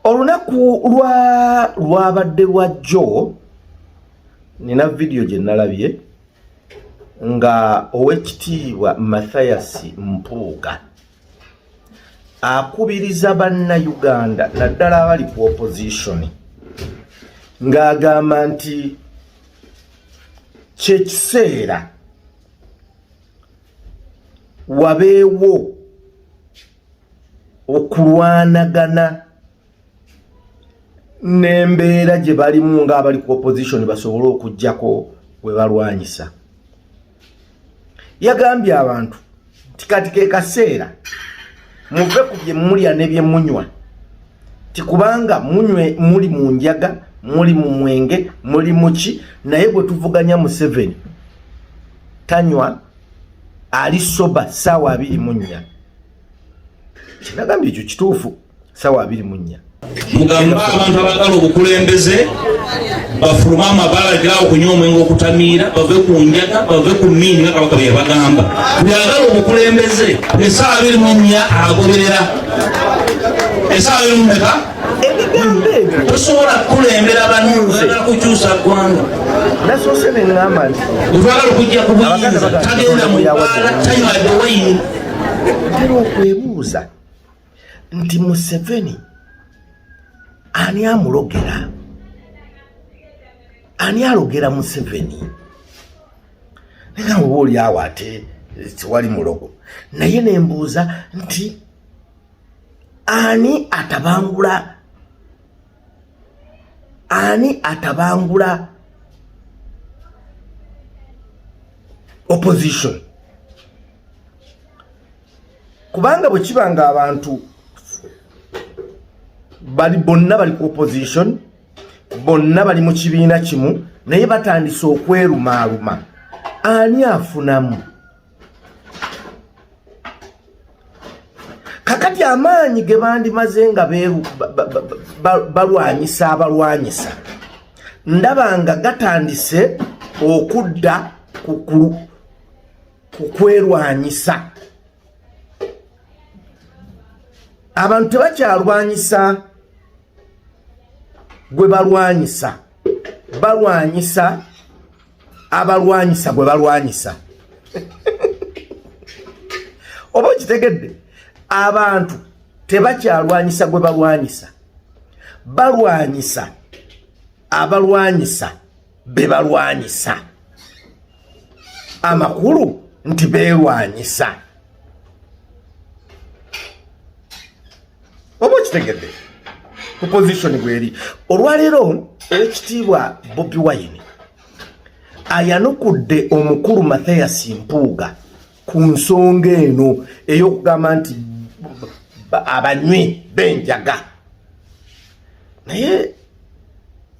olunaku lwa lwabadde lwa jjo nina vidiyo gye nalabye nga owekitiibwa mathayasi mpuuga akubiriza banna uganda naddala abali ku opozitioni ng'agamba nti kyekiseera wabeewo okulwanagana n'embeera gye balimu ng'abali ku opposition basobole okugyako we balwanyisa yagambye abantu nti kati ke kaseera muve ku bye mulya ne bye munywa ti kubanga munywe muli mu njaga muli mu mwenge muli muki naye bwe tuvuganya museveni tanywa ali soba saawa abiri mu nnya kinagambye ekyo kituufu saawa abiri mu nnya mugamba abantu abagala obukulembeze bafulume amabala ga okunywa omwenge okutamiira bave ku njaga bave ku miini nga kabaka byebagamba byagala obukulembeze esaawa abiri mu nnya agoberera esaawa abiri mu meka ebigambo ebyo tosobola kukulembera banunze kukyusa ggwanga nasoose neŋŋamba nti otwagala okujja ku buyinza tagenda mu bbaala tanywa dewayini ntera okwebuuza nti museveni ani amulogera ani alogera museveni naye nga oba oli awo ate tewali mulogo naye nembuuza nti ani atabangula ani atabangula opposition kubanga bwe kiba nga abantu bali bonna bali ku opposition bonna bali mu kibiina kimu naye batandise okwerumaaluma ani afunamu kakati amaanyi ge bandimaze nga balwanyisa abalwanyisa ndaba nga gatandise okudda ku kwerwanyisa abantu tebakyalwanyisa gwe balwanyisa balwanyisa abalwanyisa gwe balwanyisa oba okitegedde abantu tebakyalwanyisa gwe balwanyisa balwanyisa abalwanyisa be balwanyisa amakulu nti beerwanyisa oba okitegedde ku position bweri olwaleero owekitiibwa bobi wine ayanukudde omukulu mathias mpuuga ku nsonga eno ey'okugamba nti abanywi benjaga naye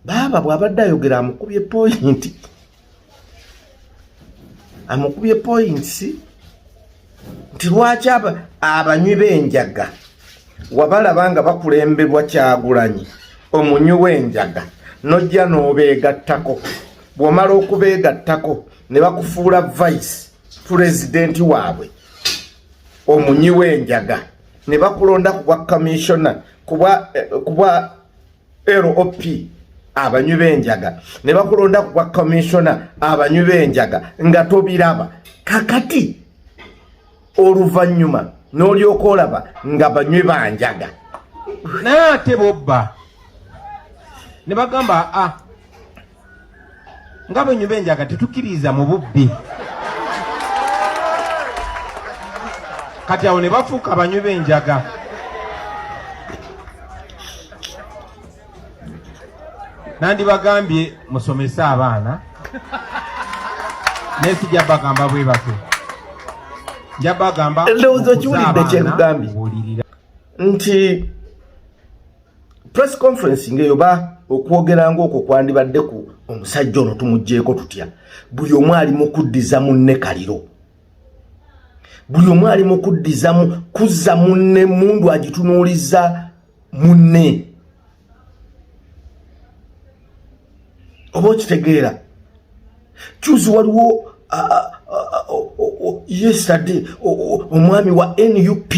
baaba bw'abadde ayogera amukubye poyinti amukubye points nti lwaki abanywi b'enjaga wabalaba nga bakulembebwa kyagulanyi omunywi w'enjaga nojja n'obeegattako bw'omala okubeegattako ne bakufuula vice pulezidenti waabwe omunywi w'enjaga ne bakulonda ku bwa kamissiona kubwa eh, lop abanywi b'enjaga ne bakulonda ku bwa commissioner abanywi b'enjaga nga tobiraba kakati oluvannyuma n'olyoka olaba nga banywi banjaga naye ate bobba ne bagamba a ah, nga bwe nyumba enjaga tetukkiriza mu bubbi kati awo ne bafuuka abanywi b'enjaga nandibagambye musomese abaana naye sijja bagamba bwe batyo nja bagamba ndowooza okiwulidde kyekugambye nti press conference ngeyo ba okwogera ng'okwo kwandibadde ku omusajja ono tumugyeko tutya buli omu ali mu kuddiza munne kaliro buli omu ali mu kuddizamu kuzza munne mundu agitunuuliza munne oba okitegeera kyuzi waliwo yesterday omwami wa nup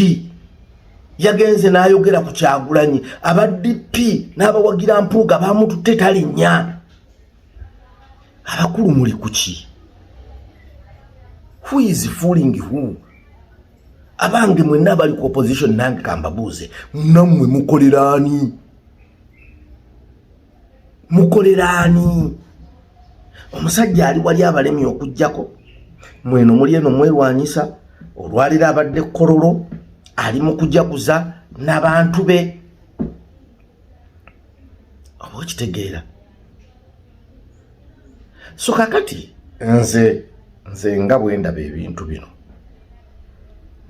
yagenze n'ayogera ku kyagulanyi aba dp n'abawagira mpuuga bamututte talinnya abakulu muli kuki who is fooling who abange mwenna abali ku opposition nange kambabuuze namwe mukoleraani mukoleraani omusajja ali wali abalemye okujjako mweno muli eno mwerwanyisa olwaliro abadde kololo ali mu kujaguza nabantu be oba okitegeera so kakati nze nze nga bwendaba ebintu bino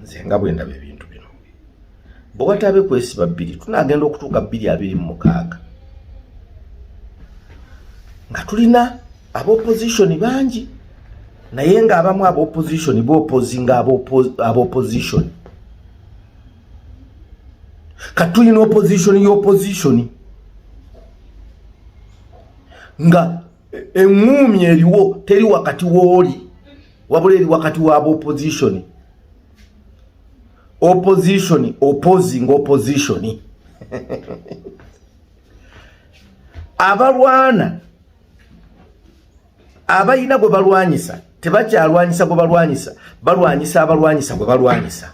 nze nga bwendaba ebintu bwe wataabe kwesiba bbiri tunaagenda okutuuka bbiri abiri mu mukaaga nga tulina abaopozitioni bangi naye ng'abamu abaopozitioni bopozi nga abaopozitioni kati tulina opozitioni y'opozitioni nga eŋŋuumi eriwo teri wakati wooli wabula eri wakati wa opposition opposition opposing opposition abalwana abalina gwe balwanyisa tebakyalwanyisa gwe balwanyisa balwanyisa abalwanyisa gwe balwanyisa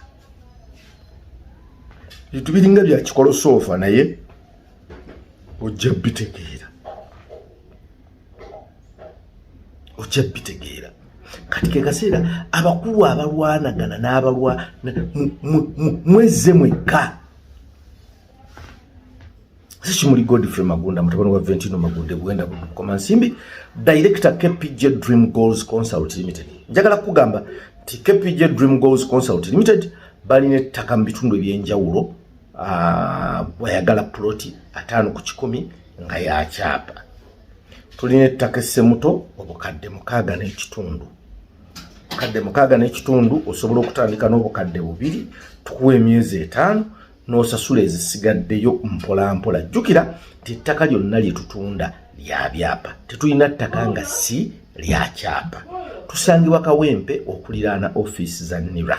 bintu biringa byakikolosoofa naye ojja bitegeera okyebitegeera kati kekaseera abakulu abalwanagana n'abalwa mwezze mwekka sikimuli godfrey magunda mutabani wa ventino magunda ebuwenda bukoma nsimbi director kpj dream goals consult limited njagala kukugamba nti kpj dream goals consult limited balina ettaka mu bitundu ebyenjawulo ah, bwayagala puloti ataano ku kikumi nga yakyapa tulina ettaka essemuto obukadde mukaaga n'ekitundu obukadde mukaaga n'ekitundu osobola okutandika n'obukadde bubiri tukuwa emyezi etaano n'osasula ezisigaddeyo mpolampola jjukira nti ettaka lyonna lye tutunda lya byapa tetulina ttaka nga si lya kyapa tusangibwa kawempe okuliraana ofiisi za nira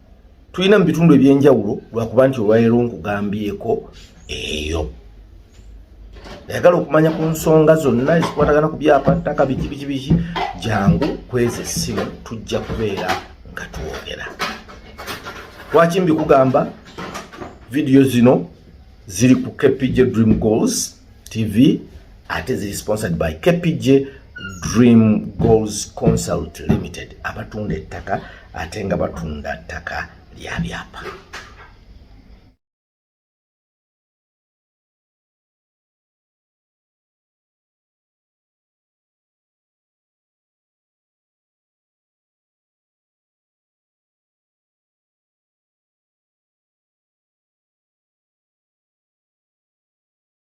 tulina mu bitundu ebyenjawulo lwakuba nti olwalero nkugambyeko eyo ayagala okumanya ku nsonga zonna ezikwatagana ku byapa ttaka biki biki biki jangu kweza essimu tujja kubeera nga twogera lwaki mbikugamba vidiyo zino ziri ku kpj dream goals TV ate ziri sponsored by KPJ Dream Goals Consult Limited abatunda ettaka ate nga batunda ttaka lya byapa.